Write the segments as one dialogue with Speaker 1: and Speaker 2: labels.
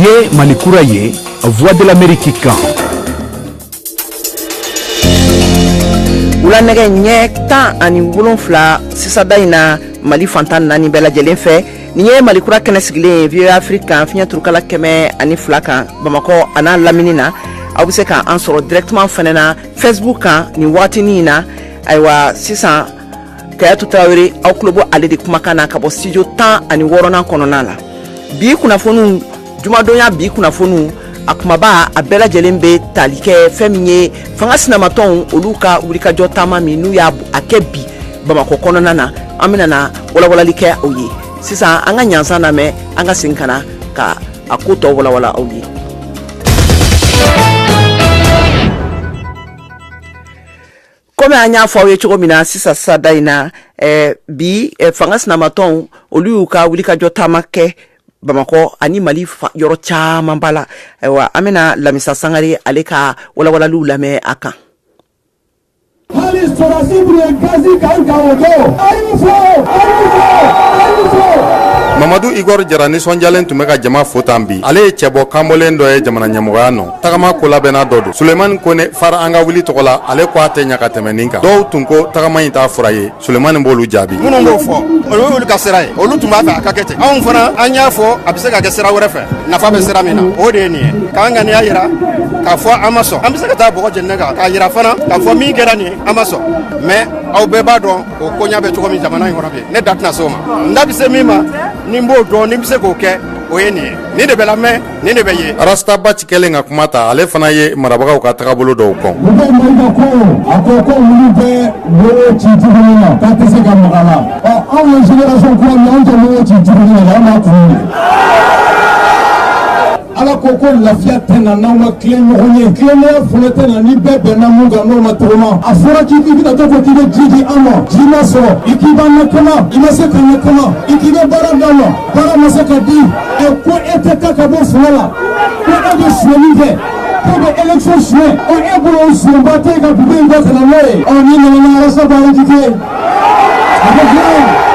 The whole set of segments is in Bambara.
Speaker 1: ye malikura ye voix de l'amérique kan
Speaker 2: wula nɛgɛ ɲɛ tan ani wolonfila sisada in na mali fan tan naani bɛɛ lajɛlen fɛ nin ye malikura kɛnɛ sigilen voa afrique kan fiɲɛ turukala kɛmɛ ani fila kan bamakɔ an'a lamini na aw be se ka an sɔrɔ directement fɛnɛ na facebook kan nin wagatinin na ayiwa sisan kajatu tarawele aw tulo bɛ ale de kumakan na ka bɔ studio tan ani wɔɔrɔnan kɔnɔna la bi kunnafoniw jumadon ya bi kunnafoniw a kumaba a bɛɛ lajɛlen bɛ tali kɛ fɛn min ye fanga sinamatɔnw olu ka wulikajɔ taama min n'u y'a a kɛ bi bamakɔ kɔnɔna na an bɛna na walawalali kɛ aw ye sisan an ka ɲansan lamɛn an ka segin ka na ka a ko tɔ walawala aw ye komi an y'a fɔ aw ye cogo min na sisan sada in na eh, bi eh, fanga sinamatɔnw olu y'u ka wulikajɔ taama kɛ bamakɔ ani mali yɔrɔ caman ba la ayiwa an bɛna lamisa sangare ale ka walawalaliw lamɛn a kan hali sɔrɔsi tun ye gazi kan kan o
Speaker 3: don a y'u fo a y'u fo a y'u fo mamadu igor jara nisɔndiyalen tun bɛ ka jama fo tan bi ale ye cɛbɔ kanbɔlen dɔ ye jamana ɲɛmɔgɔya nɔ tagama kolabɛnna dɔ don sulemani kone fara an ka wuli tɔgɔ la ale ko a tɛ ɲa ka tɛmɛ nin kan dɔw tun ko tagama ɲi t'a fura ye sulemani b'olu jaabi minnu b'o fɔ o
Speaker 4: y'olu ka sira ye olu tun b'a fɛ a ka kɛ ten anw fana an y'a fɔ a bɛ se ka kɛ sira wɛrɛ fɛ nafa bɛ sira min na o de ye nin ye k'an ŋaniya yira k'a fɔ an ma sɔn an bɛ se ka taa bɔgɔ jeninen kan k'a yira fana k'a fɔ min kɛra nin an ma sɔn mais aw bɛɛ b'a dɔn o koɲa bɛ cogo min jamana in kɔnɔ bi ne da tɛna se o ma n da bɛ se min ma ni n b'o dɔn ni n bɛ se k'o kɛ o ye nin ye nin de bɛ lamɛn nin de bɛ ye rasta bath kɛlen
Speaker 3: ka kuma ta ale fana ye marabagaw ka tagabolo dɔw kɔn a
Speaker 5: ko ko bɛ ci ka la anw ci ci ala ko ko lafiya tɛ na n'aw ma tilen ɲɔgɔn ye tilenya fana tɛ na ni bɛɛ bɛnna min kan n'o ma tɔgɔma a fɔra k'i i bɛna to ko k'i bɛ ji di an ma ji ma sɔrɔ i k'i b'an lakana i ma se k'an lakana i k'i bɛ baara d'an ma Baara ma se ka di ɛ ko e tɛ taa ka bɔ fanga la ko e bɛ suɲɛli kɛ ko bɛ élection suɲɛ ɔ e bolo o suɲɛba tɛ e ka dugu in kɔ ka na n'o ye ɔ ni nana ni arasa b'a invité a bɛ diya ye.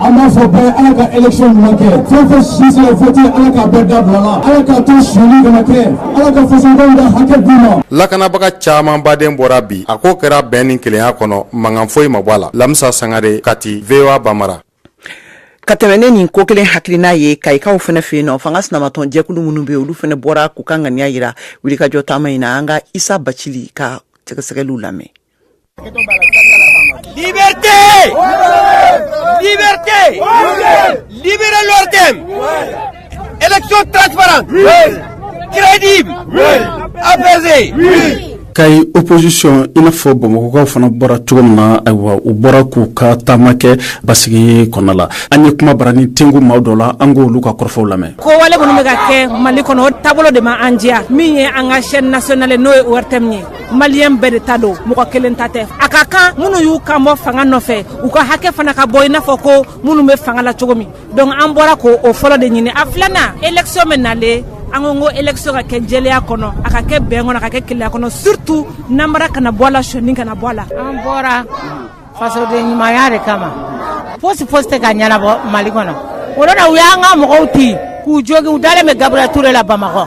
Speaker 5: an b'a fɔ bɛɛ ala ka élection ɲuman kɛ fɛn fɛn si sera vote ala k'a bɛɛ dabila la ala k'a to suɲɛli kana kɛ ala ka fasodenw ka hakɛ d'u ma. lakanabaga
Speaker 3: camanba de bɔra bi a ko kɛra bɛn ni kelenya kɔnɔ mankan foyi ma bɔ a la lamisa sangare kati voa bambara ka
Speaker 2: tɛmɛ ni nin ko kelen hakilina ye kayikaw fana fɛ yen nɔ fanga sinamatɔn jɛkulu minnu bɛ olu fana bɔra k'u ka ŋaniya jira wulikajɔ taama in na an ka isa bacili ka sɛgɛsɛgɛliw lamɛn
Speaker 6: Élection transparente. Crédible. Apaisée.
Speaker 7: kayi opposition i n'a fɔ bamakɔkaw fana bɔra cogo min na ayiwa u bɔra k'u ka taama kɛ basigi kɔnɔ la an ye kuma baranin tɛngu maaw dɔ la an k'olu ka kɔrɔfɔw lamɛn ko wale minnu bɛ ka
Speaker 8: kɛ mali kɔnɔ o taabolo de ma an diya min ye an ka chaîne nationale n'o ye ortm ye maliyɛn bɛɛ de ta don mɔgɔ kelen ta tɛ a ka kan minnu y'u kan bɔ fanga nɔfɛ u ka hakɛ fana ka bɔ i n'a fɔ ko minnu bɛ fanga la cogo min donc an bɔra ko o fɔlɔ de ɲini a filanan election bɛ nalen an ko ko election ka kɛ jɛlenya kɔnɔ a ka kɛ bɛn kɔnɔ a ka kɛ kelenya kɔnɔ surtout nanbara kana bɔ a la sɔni kana bɔ a la an bɔra
Speaker 9: fasoden ɲumanya de kama fosi fosi tɛ ka ɲɛnabɔ mali kɔnɔ o de la u y'an ka mɔgɔw ti k'u jogin u dalen bɛ gabriel ture la bamakɔ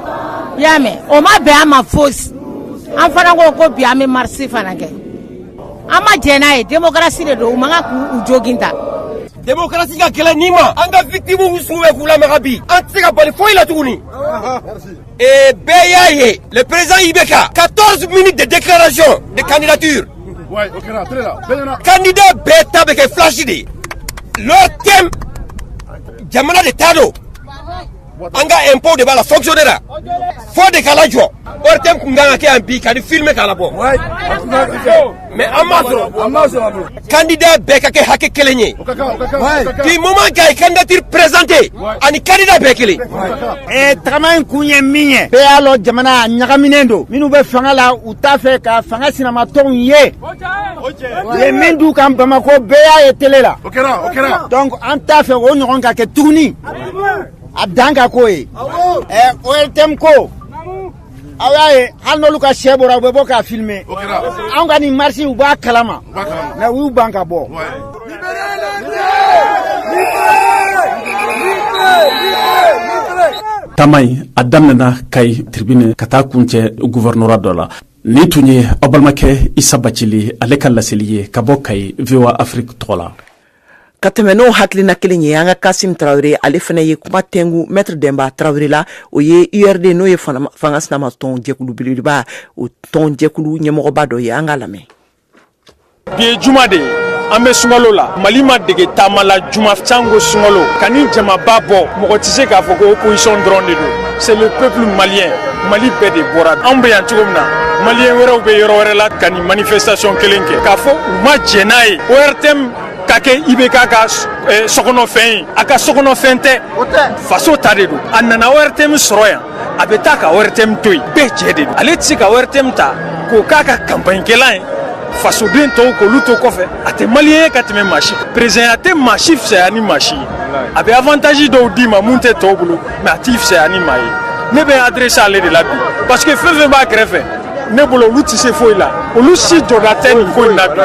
Speaker 9: i y'a mɛn o ma bɛn an ma fosi an fana ko ko bi an bɛ marisi fana kɛ an ma jɛn n'a ye demokarasi de don u man kan k'u jogin tan
Speaker 6: demokarasi ka kɛlɛ ni ma an ka vikitimuw su bɛ k'u lamaga bi an tɛ se ka bali foyi la tuguni ee bɛɛ y'a ye le président ibk 14 minutes de déclaration de
Speaker 4: candidature candidat
Speaker 6: bɛɛ ta bɛ kɛ flash de ye l'ortm jamana de ta don an ka impôt de b'a la fonctionner la fo de k'a lajɔ ortm kun kan ka kɛ yan bi ka nin filme k'a labɔ mais an m'a sɔrɔ candidat bɛɛ ka kɛ hakɛ kelen ye du moment k'a ye candidature présenter a ni candidat bɛɛ kelen
Speaker 10: tagama in kun ye min ye bɛɛ y'a lɔn jamana a ɲagaminen don minnu bɛ fanga la u t'a fɛ ka fanga sinamatɔnw ye u ye min d'u kan bamako bɛɛ y'a ye tele la
Speaker 4: donc an t'a fɛ
Speaker 10: o ɲɔgɔn ka kɛ tuguni a dan ka k'o ye ORTM ko aw y'a ye hali n'olu ka shɛ bɔra u bɛ bɔ k'a filmer anw ka nin marisi u b'a kalama mais u y'u ban ka bɔ
Speaker 7: taama in a daminɛna kayi tribune ka taa kuncɛ guvɛrɛnora dɔ la nin tun ye aw balimakɛ isa bacili ale ka laseli ye ka bɔ kayi voa afrique tɔgɔ la ka tɛmɛ
Speaker 2: n'o hakilina kelen ye an ka kasimu tarawele ale fana ye kuma tɛngu mɛtiri denba tarawele la o ye urd n'o ye fanga sinama tɔn jɛkulu belebeleba o tɔn jɛkulu ɲɛmɔgɔba dɔ ye an k'a lamɛn
Speaker 11: bi ye juma de ye an bɛ sunkalo la mali ma dege taama la juma janko sunkalo ka nin jamaba bɔ mɔgɔ tɛ se k'a fɔ ko opposition dɔrɔn de don C'est le peuple malien Mali bɛɛ de bɔra anw bɛ yan cogo min na maliyɛn wɛrɛw bɛ yɔrɔ wɛrɛ la ka nin manifestation kelen kɛ k'a fɔ u ma jɛn n'a ye ORTM ka kɛ IBK ka eh, sokɔnɔfɛn ye a ka sokɔnɔfɛn tɛ faso ta de don a nana ORTM sɔrɔ yan a bɛ taa ka ORTM to yen bɛɛ jɛ de don ale tɛ se ka ORTM ta k'o k'a ka kanpaɲikɛlan ye fasoden tɔw k'olu to kɔfɛ a tɛ maliyɛn ye ka tɛmɛ maa si kan perezidanya tɛ maa si fisaya ni maa si ye a bɛ avantazi dɔw d'i ma mun tɛ tɔw bolo mais a t'i fisaya ni maa ye ne bɛ adrese ale de la bi parce que fɛn fɛn b'a kɛrɛfɛ ne bolo olu tɛ se foyi la olu si jɔda tɛ nin ko in na bi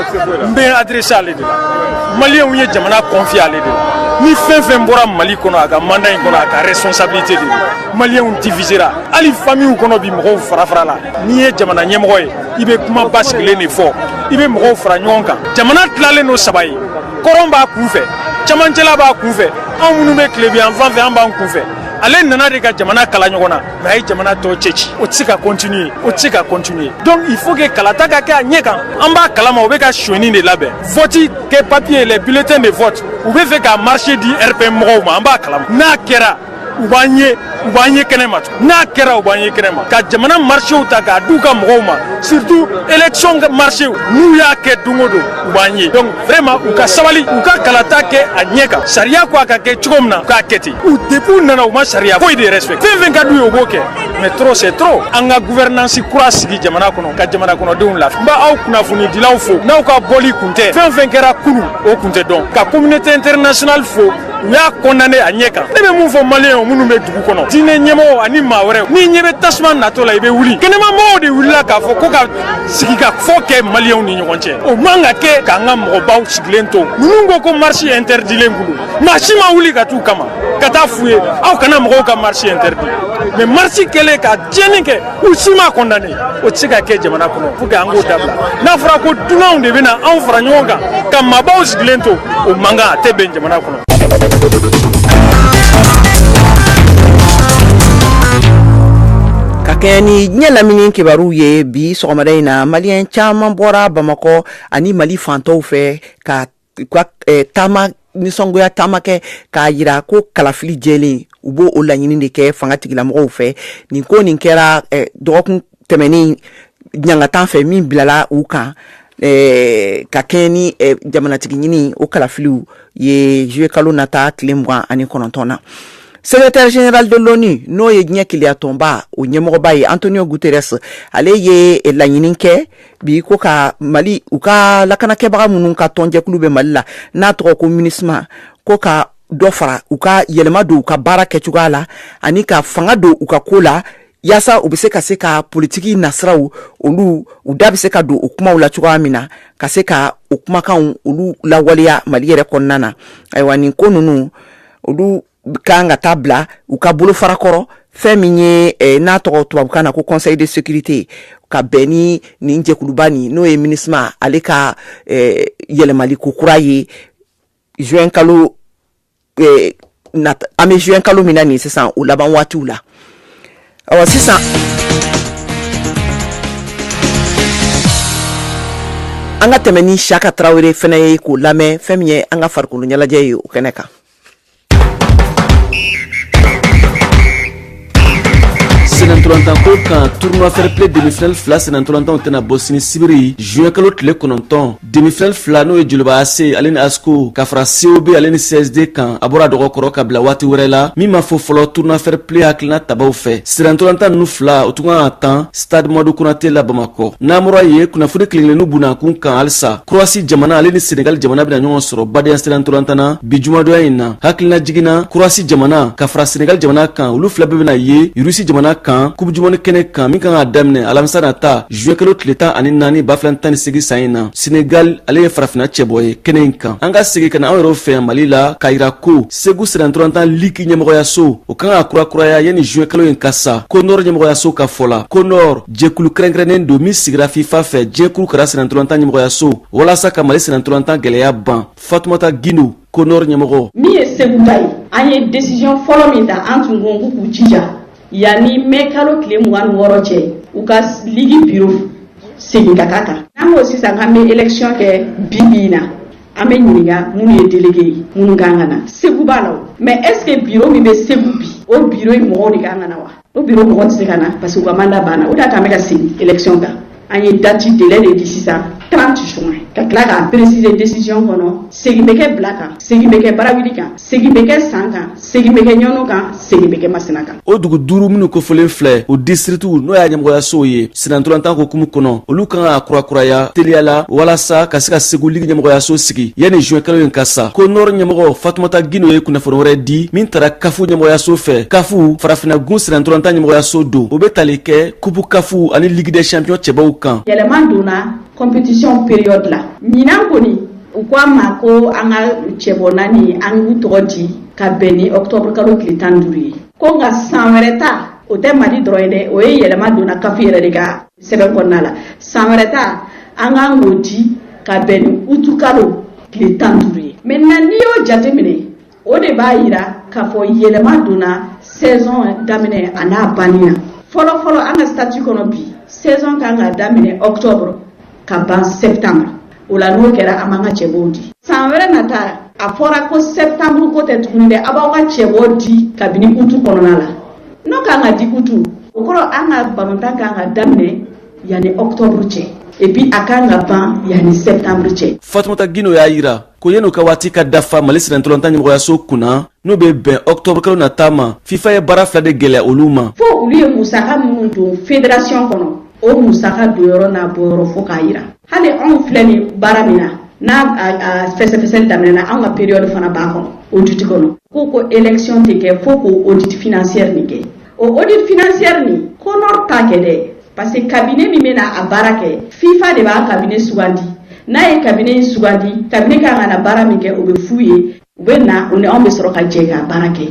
Speaker 11: n bɛ adrese ale de la maliyɛnw ye jamana confié ale de la ni fɛn fɛn bɔra mali kɔnɔ a ka manda in kɔnɔ a ka responsabilité de don maliyɛnw divisera hali famiw kɔnɔ bi mɔgɔw fara fara la n'i ye jamana ɲɛmɔgɔ ye i bɛ kuma basigilen de fɔ i bɛ mɔgɔw fara ɲɔgɔn kan jamana tilalen don saba ye kɔrɔn b'a kun fɛ camancɛla b'a kun fɛ anw minnu bɛ tilebinyanfan fɛ an b'an kunfɛ ale nana de ka jamana kala ɲɔgɔn na mais a ye jamana tɔ cɛci o tɛ se ka continuer o tɛ se ka continuer donc il faut que kalata ka kɛ a ɲɛ kan an b'a kalama u bɛ ka sonyani de labɛn vote kɛ papier les bulletins de vote u bɛ fɛ ka marché di RPM mɔgɔw ma an b'a kalama n'a kɛra u b'an ye u b'an ye kɛnɛ ma n'a kɛra u b'an ye kɛnɛ ma ka jamana marchéw ta k'a d'u ka mɔgɔw ma surtout élection marchéw n'u y'a kɛ don o don u b'an ye donc vraiment u ka sabali u ka kalata kɛ a ɲɛ kan sariya ko a ka kɛ cogo min na u k'a kɛ ten u depuis u nana u ma sariya foyi de respect fɛn fɛn ka d'u ye u b'o kɛ mais trop c'est trop an ka gouvernance kura sigi jamana kɔnɔ ka jamana kɔnɔdenw lafiya n b'aw kunnafonidilaw fo n'aw ka bɔli kun tɛ fɛn fɛn kɛra kunun o kun tɛ dɔn ka communauté internationale fo u y'a condamné a ɲɛ kan ne bɛ mun fɔ maliyɛnw minnu bɛ dugu kɔnɔ diinɛ ɲɛmɔgɔw ani maa wɛrɛw n'i ɲɛ bɛ tasuma natɔ la i bɛ wuli kɛnɛmamɔgɔw de wulila k'a fɔ ko ka sigikafɔ kɛ maliyɛnw ni ɲɔgɔn cɛ o man ka kɛ k'an ka mɔgɔbaw sigilen to ninnu ko ko marisi intɛridilen kun don maa si ma wuli ka t'u kama ka taa f'u ye aw kana mɔgɔw ka marisi intɛridi mais marisi kɛlen ka tiɲɛni kɛ u si m'a condamné o tɛ se ka kɛ jamana kɔnɔ pour que an k'o dabila n'a fɔra ko dunanw de bɛna anw fara ɲɔgɔn kan ka maabaw sigilen to o man kan a tɛ bɛn jamana kɔnɔ.
Speaker 2: ka kɛɲɛ ni diɲɛ lamini kibaruw ye bi sɔgɔmada in na maliyɛn caman bɔra bamakɔ ani mali fan tɔw fɛ ka ka eh, taama nisɔngoya taama kɛ k'a jira ko kalafili jɛlen u b'o o laɲini de kɛ fangatigilamɔgɔw fɛ nin ko nin kɛra eh, dɔgɔkun tɛmɛnen ɲangata fɛ min bilala u kan eh, ka kɛɲɛ ni jamanatigi ɲini o kalafiliw ye juillet kalo nata tile mugan ani kɔnɔntɔn na secrétaire général de l'ONU n'o ye diɲɛ kelenyatɔnba o ɲɛmɔgɔba ye Antonio Guterres ale ye laɲini kɛ bi ko ka mali u ka lakanakɛbaga minnu ka tɔnjɛkulu bɛ mali la n'a tɔgɔ ko minisma ko ka dɔ fara u ka yɛlɛma don u ka baara kɛ cogoya la ani ka fanga don u ka ko la yaasa u bɛ se ka se ka politiki nasiraw olu u da bɛ se ka don o kumaw la cogoya min na ka se ka o kumakanw olu lawaleya mali yɛrɛ kɔnɔna na ayiwa nin ko ninnu olu kan ka taa bila u ka bolo fara kɔrɔ fɛn min ye eh, n'a tɔgɔ tubabukan na ko conseil de sécurité ka bɛn ni nin jɛkuluba nin n'o ye minisma ale ka eh, yɛlɛmali ko kura ye juin kalo eh, nata an bɛ juin kalo min na nin sisan o laban waatiw la awa sisan an ka tɛmɛ ni saka tarawele fɛnɛ ye k'o lamɛn fɛn min ye an ka farikolo ɲɛnajɛ ye o kɛnɛ kan
Speaker 12: Senantolantan ko kan tournoi fair play demi-finale fila senantolantanw tɛna bɔ sini sibiri juin kalo tile kɔnɔntɔn demi-finale fila n'o ye joliba ac ale ni asko ka fara cob ale ni csd kan a bɔra dɔgɔ kɔrɔ ka bila waati wɛrɛ la min ma fɔ fɔlɔ tournoi fair play hakilina tabaw fɛ senantolantan ninnu fila o tun kan ka tan stade madu konate la bamakɔ n'an bɔra yen kunnafoni kelenkelennu bunakun kan halisa korowasi jamana ale ni senegal jamana bena ɲɔgɔn sɔrɔ badenya senantolantan na bi jumadonya in na hakilinajigin na korowasi jamana ka fara senegal jamana kan olu fila bɛɛ bena ye irusi jamana kan coupe du monde kɛnɛ kan min kan ka daminɛ alamisa nata juin kalo tile tan ani naani ba fila ni tan ni segin san in na senegal ale ye farafina cɛbɔ ye kɛnɛ in kan an ka segi ka na anw yɛrɛw fɛ yan mali la k'a yira ko segu senantolantan ligi ɲɛmɔgɔyaso o kan ka kurakuraya yanni juin kalo in ka sa konɔr ɲɛmɔgɔyaso ka fɔ la konɔr jɛkulu kɛrɛnkɛrɛnnen don min sigira fifa fɛ diɲɛ kuru kara senantolantan ɲɛmɔgɔyaso walasa ka mali senantolantan gɛlɛya ban fatumata gindo konɔr ɲɛmɔgɔ min ye segu ta
Speaker 13: ye an ye desiziyɔn fɔlɔ min ta an tun ko k'u jija yanni mɛ kalo tile mugan ni wɔɔrɔ cɛ u ka ligi biro segin ka ka kan n'an ko sisan k'an bɛ elekisiyɔn kɛ bi bi in na an bɛ ɲininka minnu ye delege ye minnu kan ka na segu b'a la mais est-ce que biro min bɛ segu bi o biro in mɔgɔw de kan ka na wa o biro mɔgɔw tɛ se ka na parce que u ka manda banna o de y'a to an bɛ ka segin elekisiyɔn kan an ye dati delɛ de di sisan trente juin ka tila k'a peresise desiziyɔn kɔnɔ segin bɛ kɛ bila kan segin bɛ kɛ barawuli kan segin bɛ kɛ san kan segin bɛ kɛ ɲɔnɔ kan segin bɛ kɛ masina kan o dugu duuru
Speaker 12: minnu kofɔlen filɛ o disitirikiw n'o y'a ɲɛmɔgɔyasow ye senantolantan hukumu kɔnɔ olu kan ka kurakuraya teliya la walasa ka se ka segu ligi ɲɛmɔgɔyaso sigi yanni zuwɛn kalo in ka sa konɔr ɲɛmɔgɔ fatumata gindo ye kunnafoni wɛrɛ di min tara kafu ɲɛmɔgɔyaso fɛ kafu farafinagun senantolantan ɲɛmɔgɔyaso don o bɛ tali kɛ kupu kafu ani ligi dɛ champion cɛbɔw kan yɛlɛma donna
Speaker 13: compétition période la ɲinan kɔni u ko an ma ko an ka cɛbɔ naani an k'u tɔgɔ di ka bɛn ni octobre kalo tile tan ni duuru ye ko nka san wɛrɛ ta o tɛ mali dɔrɔn ye dɛ o ye yɛlɛma donna caf yɛrɛ de ka sɛbɛn kɔnɔna la san wɛrɛ ta an kan k'o di ka bɛn ni utu kalo tile tan ni duuru ye maintenant n'i y'o jate minɛ o de b'a yira k'a fɔ yɛlɛma donna saison daminɛ a n'a banni na fɔlɔfɔlɔ an ka statut kɔnɔ bi saison kan ka daminɛ octobre ka ban septembre o la n'o kɛra an b'an ka cɛbɔw di san wɛrɛ nata a fɔra ko septembre ko tɛ tuguni dɛ a b'aw ka cɛbɔ di kabini utu kɔnɔna la n'o kan ka di utu o kɔrɔ an ka balontan kan ka daminɛ Yanni octobre cɛ et puis a kan ka ban yanni septembre cɛ fatumata gindo y'a
Speaker 12: yira ko yanni u ka waati ka dafa mali sennantolatan ɲɛmɔgɔyaso kunna n'o bɛ bɛn octobre kalo nata ma fifa ye baara fila de gɛlɛya olu ma fo olu ye
Speaker 13: musaka minnu don federasiyɔn kɔnɔ o musaka don yɔrɔ n'a bɔ yɔrɔ fo k'a yira hali anw filɛ ni baara min na n'a fɛsɛfɛsɛli daminɛna an ka période fana b'a kɔnɔ audit kɔnɔ ko ko élection tɛ kɛ fo k'o audit financière nin kɛ o audit financière nin conor t'a kɛ dɛ parce que cabinet min bɛna a baara kɛ fifa de b'a cabinet sugandi n'a ye cabinet in sugandi cabinet kan ka na baara min kɛ o bɛ f'u ye u bɛ na u ni anw bɛ sɔrɔ ka jɛ k'a baara kɛ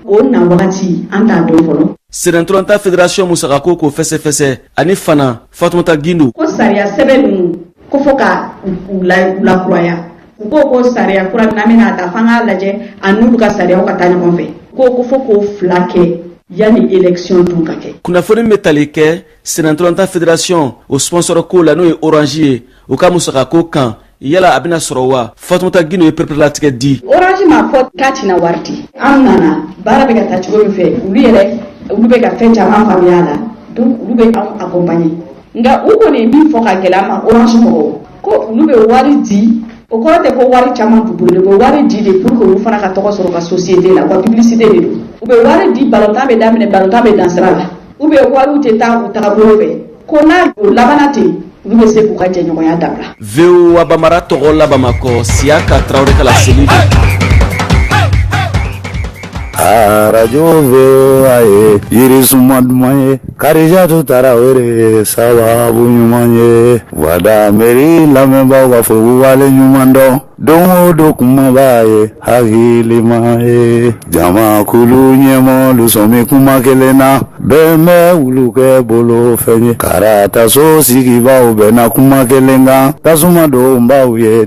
Speaker 13: o na wagati an t'a dɔn fɔlɔ sennantolatan
Speaker 12: federasiyɔn musakako k'o fɛsɛfɛsɛ ani fana fatumata gindo ko sariya sɛbɛn
Speaker 13: ninnu ko fo ka u lakuraya U ko ko sariya kura min bɛna ta f'an k'a lajɛ a n'olu ka sariyaw ka taa ɲɔgɔn fɛ u ko ko fo k'o fila kɛ yanni élection dun ka kɛ. kunnafoni min bɛ tali kɛ
Speaker 12: sennantolatan federasiyɔn o sponsor ko la n'o ye orange ye o ka musakako kan yala a bɛna sɔrɔ wa fatumata gindo ye pereperelatigɛ di. orange m'a fɔ
Speaker 13: k'a tɛna wari di an nana baara bɛ ka taa cogo min fɛ olu yɛrɛ olu bɛ ka fɛn caman faamuya a la donc olu bɛ anw accompagner nka u kɔni ye min fɔ ka gɛlɛya ma orange mɔgɔw ko olu bɛ wari di o kɔrɔ tɛ ko wari caman b'u bolo dɛ u bɛ wari di de pour que olu fana ka tɔgɔ sɔrɔ u ka société la u ka publicité de don u bɛ wari di balontan bɛ daminɛ balontan bɛ dan sira la u bɛ wariw tɛ taa u tagabolo fɛ ko n'a o labanna ten olu bɛ se k'u ka jɛɲɔgɔnya dabila. voa
Speaker 12: bambara tɔgɔ la bamakɔ siyaka tarawele ka laseli don.
Speaker 14: arajo voa ye yirisuma duman ye kadijatu tarawele ye sababu ɲuman ye wada mɛri lamɛnbaaw k'a fɔ ko wale ɲuman dɔn don o don kumaba ye hakilima ye jamakulu ɲɛmɔgɔlu sɔmi kuma kelen na bɛɛ bɛ wulukɛ bolo fɛn ye karataso sigibaaw bɛnna kuma kelen kan tasuma don baw ye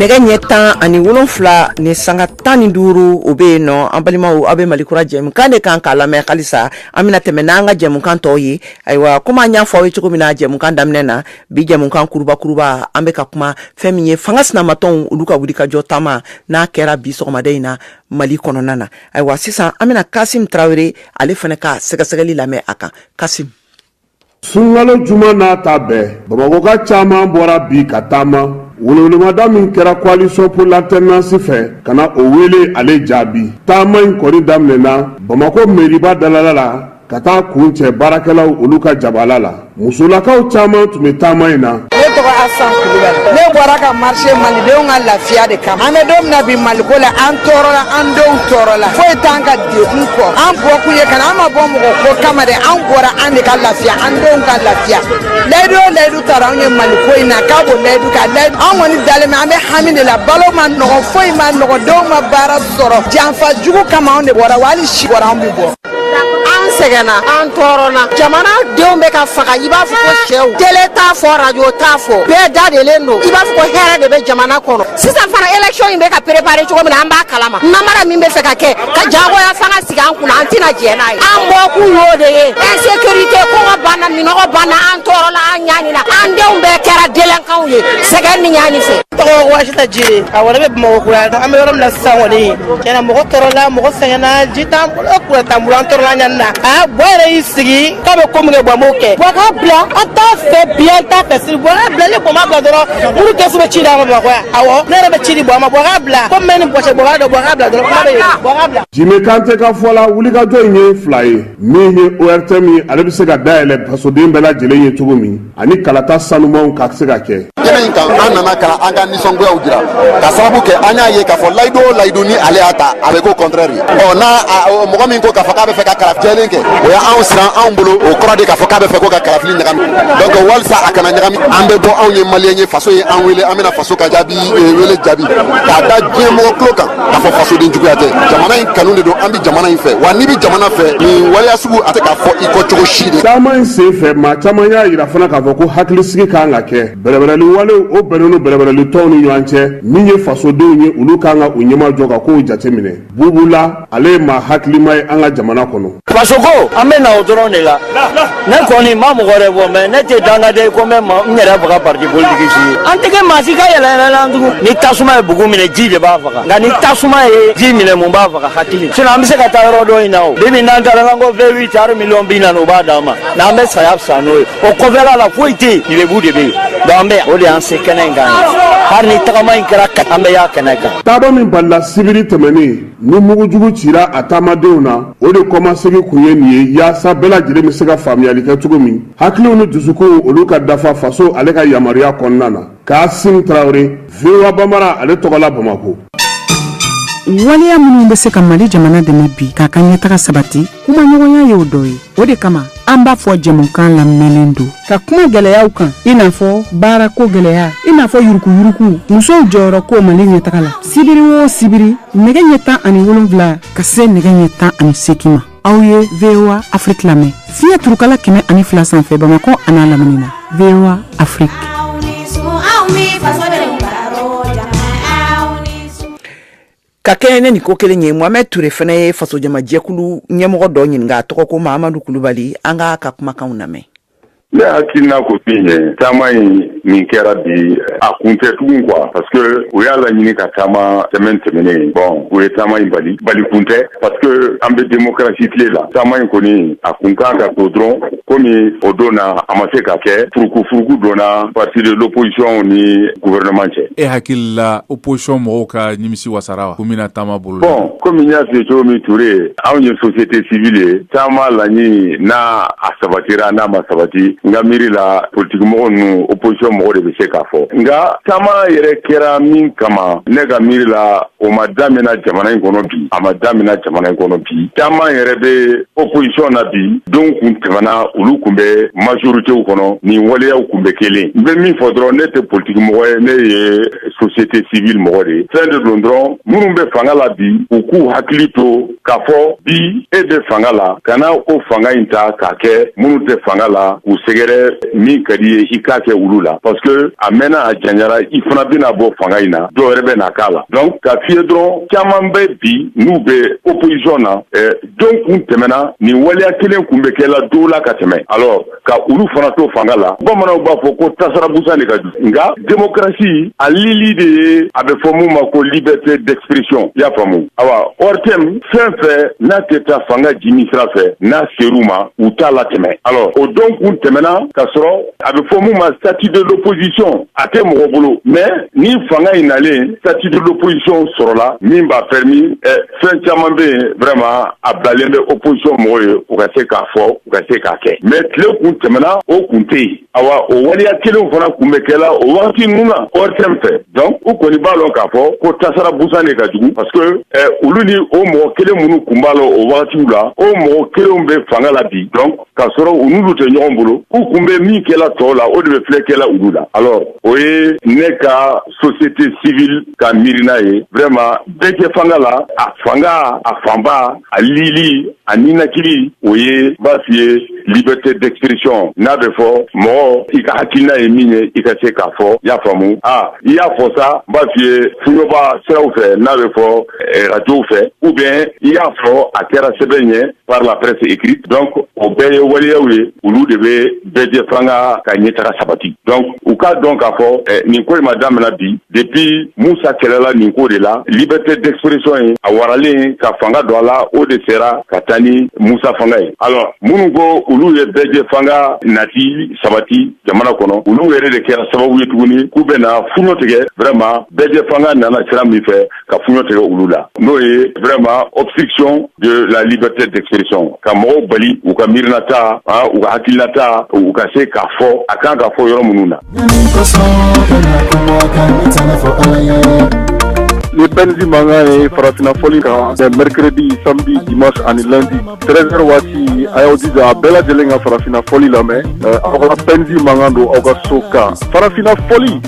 Speaker 2: nɛgɛ ɲɛ tan ani wolonfila ni sanga tan ni duuru o bɛ yen nɔ an balimaw aw bɛ mali kura jɛmukan de kan k'a lamɛn halisa an bɛna tɛmɛ n'an ka jɛmukan tɔw ye ayiwa komi an y'a fɔ aw ye cogo min na jɛmukan daminɛ na bi jɛmukan kurubakuruba an bɛ ka kuma fɛn min ye fanga sinamatɔnw olu ka wulikajɔ taama n'a kɛra bi sɔgɔmada in na mali kɔnɔna na ayiwa sisan an bɛna kasim tarawele ale fana ka sɛgɛsɛgɛli lamɛn a kan kasim
Speaker 15: sunkalo juma n'a ta bɛɛ bamakɔka caman bɔra bi ka taama welewelemada min kɛra coalition pour l'alternance fɛ ka na o wele ale jaabi taama in kɔni daminɛna bamako meriba dalala la ka taa kuncɛ baarakɛlaw olu ka jabala la musolakaw caman tun bɛ taama in na ne tɔgɔ
Speaker 16: asan kulubali ne bɔra ka marcher malidenw ka lafiya de kama an bɛ don min na bi maliko la an tɔɔrɔla an denw tɔɔrɔla foyi t'an ka kun kɔ an bɔkun ye kana an ma bɔ mɔgɔ ko kama dɛ an bɔra an de ka lafiya an denw ka lafiya layidu o layidu tara anw ye mali ko in na k'a b'o layidu ka layidu an kɔni dalen bɛ an bɛ hami de la balo ma nɔgɔ foyi ma nɔgɔ denw ma baara sɔrɔ janfa jugu kama anw de bɔra wa hali si bɔra anw bɛ bɔ an sɛgɛnna an tɔɔrɔna jamana denw bɛ ka faga i b'a fɔ ko sɛw tele t'a fɔ radio t'a fɔ bɛɛ dadelen don i b'a fɔ ko hɛrɛ de bɛ jamana kɔnɔ sisan fana élection in bɛ ka préparer cogo min na an b'a kalama namara min bɛ fɛ ka kɛ ka jagoya fanga sigi an kunna an tɛna jɛn n'a ye an bɔkun y'o de ye insécurité kɔngɔ b'an na minnɔgɔ b'an na an tɔɔrɔla an ɲanina an denw bɛɛ kɛra délinquants ye sɛgɛn ni ɲani fɛ tɔgɔ wasita
Speaker 17: jire a wale bɛ bamakɔ kura an bɛ yɔrɔ min na sisan kɔni tiɲɛ na mɔgɔ tɔɔrɔla mɔgɔ sɛgɛnna ji t'an bolo kuran t'an bolo an tɔɔrɔla ɲani na a buwa yɛrɛ y'i sigi k'a bɛ ko min kɛ buwa m'o kɛ buwa k'a bila an t'a fɛ bi an t'a fɛ sini buwa k'a bila ni buwa m'a bila dɔrɔn olu kɛsu bɛ ci d'a ma bamakɔ yan awɔ ne yɛrɛ bɛ ci di buwa ma buwa k'a bila komi bɛ ni bɔsɛ buwa k'a dɔn buwa k'a bila dɔrɔn kuma bɛ yen buwa k'a bila. jime kante ka fɔ la
Speaker 15: wulikajɔ in ye fila ye min ye ortm ye ale bɛ se ka dayɛlɛ fasoden bɛɛ lajɛlen ye cogo min ani kalata sanumanw ka se ka kɛ. kɛnɛ in kan an
Speaker 4: nana ka an ka nisɔngoyaw jira ka sababu kɛ an y'a ye k'a fɔ layidu o layidu ni ale y'a ta a bɛ k'o contraire ɔ n'a mɔgɔ min ko k'a fɔ k'a bɛ fɛ ka kalafili jɛlen kɛ o ye anw siran anw bolo o kɔrɔ de k'a fɔ k'a bɛ fɛ ko ka kalafili ɲagami donc walisa a kana ɲagami an bɛ bɔ anw ye maliyɛn ye faso ye an wele an bɛna faso ka jaabi eh, wele jaabi k'a da diɲɛ mɔgɔ tulo kan k'a fɔ fasoden juguya tɛ jamana in kanu de don an bɛ jamana in fɛ wa n'i bɛ jamana fɛ nin waleya sugu a tɛ k'a fɔ i kɔ cogo si dɛ. taama in sen fɛ maa
Speaker 15: caman y'a jira fana k'a fɔ ko hakilisigi ka kan ka kɛ Bɛrɛbɛrɛli walew, o bɛnnen don bɛrɛbɛrɛli tɔnw ni ɲɔgɔn cɛ, min ye fasodenw ye, olu ka kan ka u ɲɛmajɔ ka kow jateminɛ. Bubu La, ale ye maa hakilima ye an ka jamana kɔnɔ. Fasoko, an bɛ na
Speaker 18: o dɔrɔn de la. Ne kɔni, n ma mɔgɔ wɛrɛ fɔ, mais ne tɛ dangaden ye ko n bɛ n yɛrɛ faga parti politique si ye. An tɛ kɛ maa si ka yɛlɛyɛlɛlan tugun. Ni tasuma ye bugu minɛ, ji de b'a faga. Nka ni tasuma ye ji minɛ, mun b'a faga? Hakili. Sinon an bɛ se ka taa yɔrɔ dɔ in na o. Bi bi in na, an taara, n'an ko V8, hali miliyɔn bi naani, u b'a d'an ma, mais an bɛ saya fisaya n'o ye. o kɔfɛla la foyi tɛ yen lebu de bɛ yen donc an bɛ yan o de y'an se kɛnɛ in kan ye hali ni tagama in kɛra ka an bɛ yan kɛnɛ kan taama min balila
Speaker 15: sibiri tɛmɛnen ni mugujugu cira a taamadenw na o de kɔmasegi kun ye nin ye yaasa bɛɛ lajɛlen bɛ se ka faamuyali kɛ cogo min hakiliw ni dusukunw olu ka dafa faso ale ka yamaruya kɔnɔna na kasim tarawele voa bambara ale tɔgɔla
Speaker 19: bamakɔ waleya minnu bɛ se ka mali jamana dɛmɛ bi k'a ka ɲɛtaga sabati kumaɲɔgɔnya y'o dɔ ye o de kama an b'a fɔ jɛmukan labɛnnen don ka kuma gɛlɛyaw kan i n'a fɔ baarako gɛlɛya i n'a fɔ yurukuyuruku musow jɔyɔrɔ ko mali ɲɛtaga la sibiri o sibiri nɛgɛ ɲɛ tan ani wolonwula ka se nɛgɛ ɲɛ tan ani seegin ma aw ye voa afiriki lamɛn fiɲɛ turukala kɛmɛ ani fila sanfɛ bamakɔ an'a lamini na voa
Speaker 2: afiriki ka kɛɲɛ ni nin ko kelen ye mohamɛd ture fana ye fasojamajɛkulu ɲɛmɔgɔ dɔ ɲininka a tɔgɔ ko mahamadu kulubali an k'a ka kumakanw lamɛn Ne
Speaker 20: hakilina ko min ye taama in min kɛra bi a kun tɛ tugun quoi parce que u y'a laɲini ka taama semaine tɛmɛnen bon u ye taama in bali bali kun tɛ parce que an bɛ demokrasi tile la taama in kɔni a kun kan ka to dɔrɔn komi o don na a ma se ka kɛ furukufuruku donna parti de l'opposition ni gouvernement cɛ e hakili la
Speaker 21: opposition mɔgɔw ka nimisi wasara ko bɛna taama bolo bon komi n y'a
Speaker 20: f'i ye cogo min ture anw ye société civile ye taama laɲini n'a sabatira n'a ma sabati n ka miiri la politikimɔgɔ ninnu opposition mɔgɔ de bɛ se k'a fɔ nka taama yɛrɛ kɛra min kama ne ka miiri la o ma damina jamana in kɔnɔ bi a ma damina jamana in kɔnɔ bi caman yɛrɛ bɛ opposition na bi don kun tɛmɛna olu kun bɛ majoritéw kɔnɔ nin waleyaw kun bɛ kelen n bɛ min fɔ dɔrɔn ne tɛ politikimɔgɔ ye ne ye société civile mɔgɔ de ye fɛn de don dɔrɔn minnu bɛ fanga la bi u k'u hakili to k'a fɔ bi e bɛ fanga la kana o fanga in ta k'a kɛ minnu tɛ fanga la k'u sɛgɛrɛ min ka d'i ye i k'a kɛ olu la parce que a mɛnna a janyara i fana bɛna bɔ fanga in na dɔ wɛrɛ bɛ na k'a la donc k'a f'i ye dɔrɔn caman bɛ bi n'u bɛ opposition na eh, don kun tɛmɛna nin waleya kelen kun bɛ kɛ la dɔw la ka tɛmɛ alors ka olu fana to fanga la bamananw b'a fɔ ko tasara busan de ka jugu nka demokrasi a lili de ye a bɛ fɔ min ma ko liberté d'expression y'a faamu awa ortm fɛn fɛn n'a tɛ taa fanga jimi sira fɛ n'a ser'u ma u t'a latɛmɛ alors o don kun tɛmɛna ka sɔrɔ a bɛ fɔ min ma statut de l'opposition a tɛ mɔgɔ bolo mais ni fanga in nalen statut de l'opposition sɔrɔla min b'a permis eh, fɛn caman bɛ yen vraiment a bilalen bɛ opposition mɔgɔw ye u ka se k'a fɔ u ka se k'a kɛ mais tile kun tɛmɛna o kun tɛ yen awa o waleya kelenw fana kun bɛ kɛla o wagati ninnu na ORTM fɛ donc u kɔni b'a lɔn k'a fɔ ko tasara busan de ka jugu parce que eh, olu ni o mɔgɔ kelen minnu kun b'a la o wagatiw la o mɔgɔ kelenw bɛ fanga la bi donc k'a sɔrɔ u n'olu tɛ ɲɔgɔn bolo u kun bɛ min kɛla tɔw la o de bɛ filɛ kɛla olu la alors o ye ne ka société civile ka miirina ye vraiment bɛɛjɛ fanga la a fanga a fanba a lili a ninakili o ye b'a f'i ye liberté d'expression n'a bɛ fɔ mɔgɔ i ka hakilina ye min ye i ka se k'a fɔ i y'a faamu a i y'a fɔ sa b'a f'i ye fuɲɔba siraw fɛ n'a bɛ fɔ arajow fɛ ou bien i y'a fɔ a kɛra sɛbɛn ye par la presse écrite donc o bɛɛ ye waleyaw ye olu de bɛ bɛɛ jɛ fanga ka ɲɛtaga sabati donc u k'a dɔn k'a fɔ eh, nin ko in ma damina bi depuis musa kɛlɛla nin ko de la liberté d'expression ye a waralen ka fanga don a la o de sera ka taa ni musa fanga ye alors minnu ko olu ye bɛɛ jɛ fanga nati sabati jamana kɔnɔ olu yɛrɛ de kɛra sababu ye tuguni k'u bɛna fuɲɔ tigɛ vraiment bɛɛ jɛ fanga nana sira min fɛ ka fuɲɔ tigɛ olu la n'o ye vraiment obstruction de la liberté d'expression ka mɔgɔw bali u ka miirinata u ka hakilinata u ka se k'a fɔ a kan ka fɔ yɔrɔ minnu na
Speaker 15: ni pɛnzi mankan ye farafinna fɔli kan c'est mercredi samedi dimanche ani lundi 13 heures waati a y'aw jija a bɛɛ lajɛlen ka farafinna fɔli lamɛn aw ka pɛnzi mankan don aw ka so kan farafinna fɔli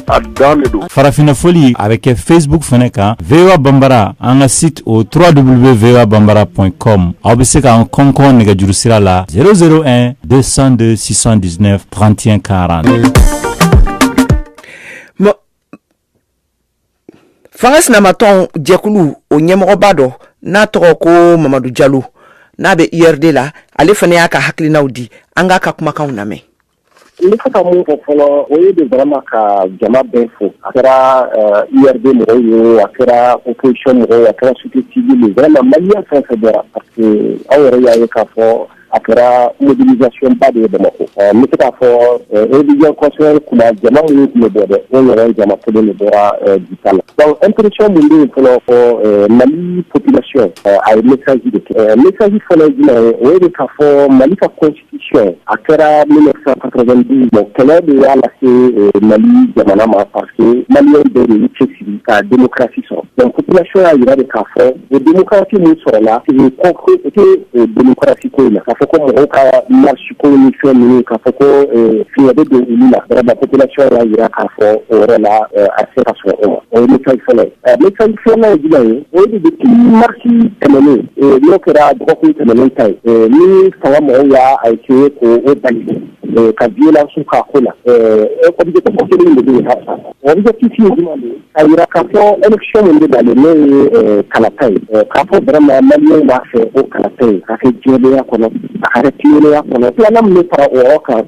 Speaker 15: Farafinna
Speaker 1: fɔli a bɛ kɛ Facebook fana kan VOA Bambara an ka site o trois w VOA Bambara point com aw bɛ se k'an kɔnkɔn nɛgɛjuru sira la zéro zéro un deux cent deux six cent dix-neuf trente et
Speaker 2: un quarante fanga sinamatɔn jɛkulu o ɲɛmɔgɔba dɔ n'a tɔgɔ ko mamadu jalo n'a bɛ URD la ale fana y'a ka hakilinaw di an k'a ka kumakanw lamɛn N bɛ se ka
Speaker 22: mun fɔ fɔlɔ o ye de barama ka jama bɛ fo a kɛra yɛrɛden mɔgɔw ye a kɛra u kecon mɔgɔw a kɛra su na mali fɛn fɛ bɔra aw yɛrɛ y'a ye k'a fɔ a kɛra mɔbilicba de ye bamakɔ n bɛ se k'a fɔ ojɛ tun jama minnu tun bɔ dɛ o yɛrɛ jama kelen de bɔra bi la an teric min bɛ fɔlɔ fɔ mali psi a ye miji de kɛ miji fana ye jumɛn o de k'a fɔ mali ka a kɛra min kɛlɛ de y'a lase mali jamana ma pa mali bɛ de cɛ siri ka denmusosi sɔrɔsi y'a jira de k'a fɔ o denmusosi min sɔrɔ la denmusokasi ko in ka fɔ ko mɔgɔw ka lasiko ni fɛn ninnu ka fɔ ko fi bɛ don olu lasi y'a jira k'a fɔ o la a se ka sɔrɔ o ma o fɔlɔ ye O de bɛ kɛ marisi tɛmɛnen n'o kɛra dɔgɔkun tɛmɛnen ta ye ni fanga mɔgɔw y'a a ko o bali ka dilansiw ka ko la ɛ kɔni de a jira ka fɔ esi min bɛ dalen n'o ye kalata ye k'a fɔ bara ma b'a fɛ o kalata ye ka kɛ jɔnya kɔnɔ a kɛra tiya kɔnɔ filanan min bɛ fara o kan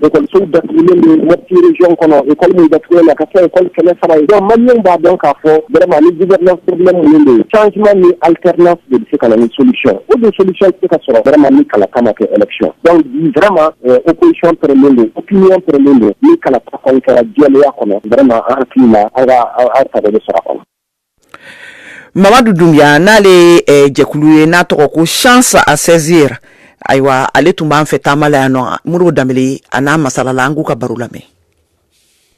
Speaker 22: ekɔlisow datugulen bɛ Mopti region kɔnɔ école min datugulen don ka kɛ école kɛmɛ saba ye donc maliyɛnw b'a dɔn k'a fɔ vraiment ni gouvernance problème ninnu de ye changement ni alternance de bɛ se ka na ni solution o dun solution tɛ se ka sɔrɔ vraiment ni kalata ma kɛ élection donc bi vraiment euh, opposition pɛrɛnlen don opinion pɛrɛnlen don ni kalata kɔni kɛra jɛlenya kɔnɔ vraiment an hakili la an ka an sago bɛ sɔrɔ a kɔnɔ
Speaker 2: Mamadu Dunbiya n'ale ye ɛ jɛkulu ye n'a tɔgɔ ko chance à saisir ayiwa ale tun b'an fɛ taama la yan nɔ Modibo Danbele a n'a masalala an k'u ka baro lamɛn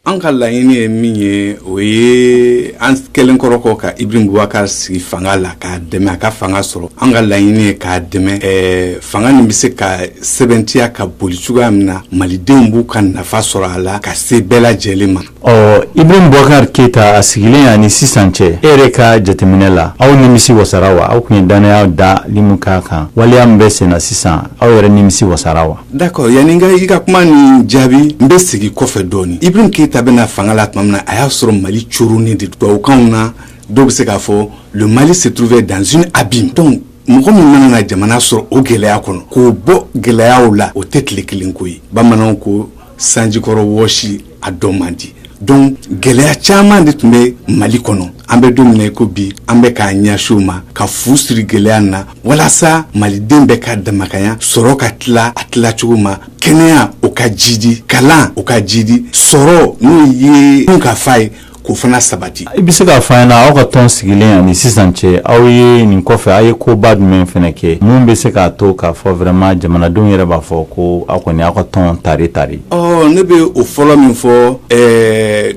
Speaker 2: an
Speaker 3: ka laɲini ye min ye o ye an kɛlen kɔrɔ kɔ ka Ibrahim Boubacar sigi fanga la k'a dɛmɛ a ka fanga sɔrɔ an ka laɲini ye k'a dɛmɛ ɛɛ fanga nin bɛ se ka sɛbɛntiya ka boli cogoya min na malidenw b'u ka nafa sɔrɔ a la ka se bɛɛ lajɛlen ma ɔ Ibrahim Boubacar
Speaker 1: keyita a sigilen ani sisan cɛ e yɛrɛ ka jateminɛ la aw nimisi wasara wa aw tun ye dannaya dali min k'a kan waleya min bɛ senna sisan aw yɛrɛ nimisi wasara wa d'accord yanni n ka i ka
Speaker 3: kuma nin jaabi n bɛ segin kɔfɛ dɔɔnin Ibrahim keyita bɛ na fanga la tuma min na a y'a sɔrɔ mali coronnen de tubabukan na dɔ bɛ se k'a fɔ le mali se trouvait dans une abîme donc mɔgɔ min mana na jamana sɔrɔ o gɛlɛya kɔnɔ k'o bɔ gɛlɛyaw la o tɛ tile kelen ko ye bamananw ko sanjikɔrɔ wɔsi a dɔn man di donc gɛlɛya caman de tun bɛ mali kɔnɔ an bɛ don min na i ko bi an bɛ k'a ɲɛsin u ma ka fu siri gɛlɛya na walasa maliden bɛɛ ka damakanya sɔrɔ ka tila a tila cogo ma kɛnɛya o ka jidi kalan o ka jidi sɔrɔ n'o ye dunkafa ye k'o fana sabati i bɛ se k'a fɔ an ɲɛna
Speaker 1: aw ka tɔn sigilen ani sisan cɛ aw ye nin kɔfɛ aw ye koba jumɛn fana kɛ min bɛ se k'a to k'a fɔ vraiment jamanadenw yɛrɛ b'a fɔ ko aw kɔni aw ka tɔn tari tari ɔ ne bɛ o
Speaker 3: fɔlɔ min fɔ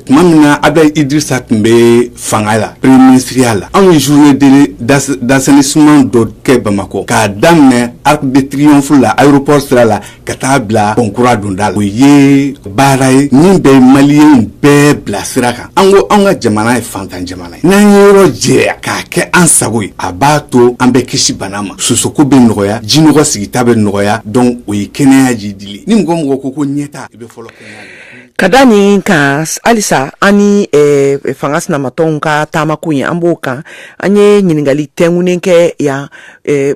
Speaker 3: tuma min na Abdoulaye Idrissa tun bɛ fanga la premier ministriya la anw ye journée d'assainissement dɔ kɛ bamakɔ k'a daminɛ arc de triomphe la aéroport sira la ka taa bila pɔn kura donda la o ye baara ye min bɛ maliyɛnw bɛɛ bila sira kan an ko an ka jamana ye fantan jamana ye n'an ye yɔrɔ jɛya k'a kɛ an sago ye a b'a to an bɛ kisi bana ma sosoko bɛ nɔgɔya jinɔgɔ sigita bɛ nɔgɔya donc o ye kɛnɛya jidili ni mɔgɔ mɔgɔ ko ko ɲɛtaa i bɛ fɔlɔ ka da nin
Speaker 2: kan halisa an ni eh, fanga sinamatɔnw ka taamako ye an b'o kan an ye ɲininkali tɛnkunen kɛ yan eh,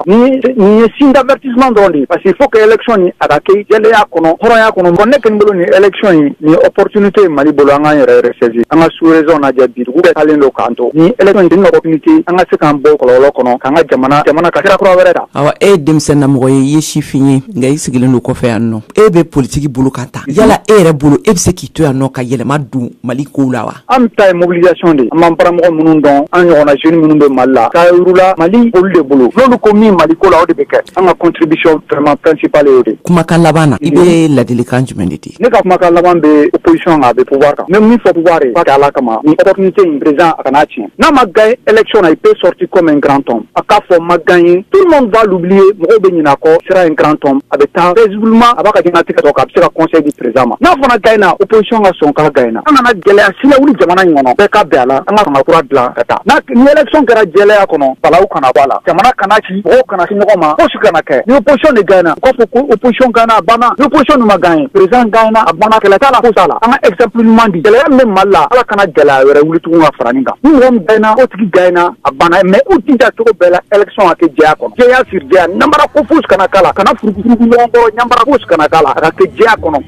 Speaker 5: Nin ye signe d'avertissement dɔrɔn de ye parce que il faut que élection nin a ka kɛ jɛlenya kɔnɔ hɔrɔnya kɔnɔ bon ne kɔni bolo nin élection in nin ye opportunité ye Mali bolo an k'an yɛrɛ ressaisir an ka sous région lajɛ bi dugu bɛɛ taalen don k'an to nin élection in nin opportunité an ka se k'an bɔ kɔlɔlɔ kɔnɔ k'an ka jamana jamana ka sira kura wɛrɛ ta. Awa e ye denmisɛn na
Speaker 2: mɔgɔ ye i ye sifin ye nka i sigilen don kɔfɛ yan nɔ e bɛ politique bolo kan tan yala e yɛrɛ bolo e bɛ se k'i to yan nɔ ka yɛlɛma don Mali kow la wa? An ta ye
Speaker 5: mobilisation de ye, an b'an baramɔgɔ minnu dɔn, an ɲɔgɔnna jeunes minnu bɛ Mali la, k'a yir'u la Mali olu de bolo, n'olu ko min Mali ko la, o de bɛ kɛ, an ka contribution vraiment principale y'o de ye. Kumakan laban na, i bɛ
Speaker 2: ladilikan jumɛn de di? Ne ka kumakan laban bɛ
Speaker 5: opposition kan, a bɛ pouvoir kan, n bɛ min fɔ pouvoir ye, a ka kɛ Ala kama, nin opportunité in président a kan'a tiɲɛ, n'a ma gagner élection na, il peut sortir comme un grand homme, a k'a fɔ n ma gagner, tout le monde va l'oublier, mɔgɔw bɛ ɲinɛ a kɔ, il sera un grand homme, a bɛ taa paisiblement a b'a ka diɲɛlatigɛ tɔ kɛ, a bɛ se ka conseil di président ma, n'a fana gagner na, opposition ka sɔn k'a gagner. na an kana gɛlɛya si lawuli jamana in kɔnɔ bɛɛ ka bɛn a la an ka fanga kura dilan ka taa ni élection kɛra jɛlɛya kɔnɔ balawu kana bɔ a la jamana kana ci mɔgɔw kana se ɲɔgɔn ma fosi kana kɛ ni opposition de gagner na u k'a fɔ ko opposition gagner na a banna ni opposition dun ma gagner président gagner na a banna kɛlɛ t'a la fosi t'a la an ka exemple ɲuman di gɛlɛya min bɛ mali la ala kana gɛlɛya wɛrɛ wuli tugun ka fara nin kan ni mɔgɔ min gagner na o tigi gagner na a banna mais u jija cogo bɛɛ la élection ka kɛ jɛya kɔnɔ jɛya siri jɛya ɲanbara ko fosi kana k'a la kana furugufurugu ɲɔgɔn kɔrɔ ɲanbara fosi kana k'a la a ka kɛ jɛya kɔnɔ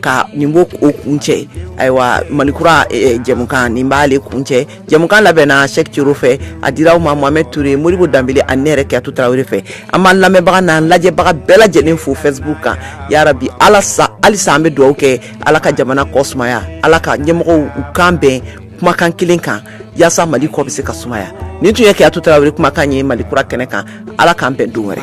Speaker 2: ka nin b'o kuncɛ ayiwa malikura jɛmukan nin b'ale kuncɛ jɛmukan labɛnna cheick thiero fɛ a dira aw ma mohamed touré modibo dembélé ani ne yɛrɛ kadiatou traoré fɛ an b'an lamɛnbaga n'an lajɛbaga bɛɛ lajɛlen fo facebook kan yarabi halisa an bɛ dugawu kɛ ala ka jamana kɔ sumaya ala ka ɲɛmɔgɔw kan bɛn kumakan kelen kan walasasa mali kɔ bɛ se ka sumaya nin tun ye kadiatou traoré kumakan ye malikura kɛnɛ kan ala k'an bɛn don wɛrɛ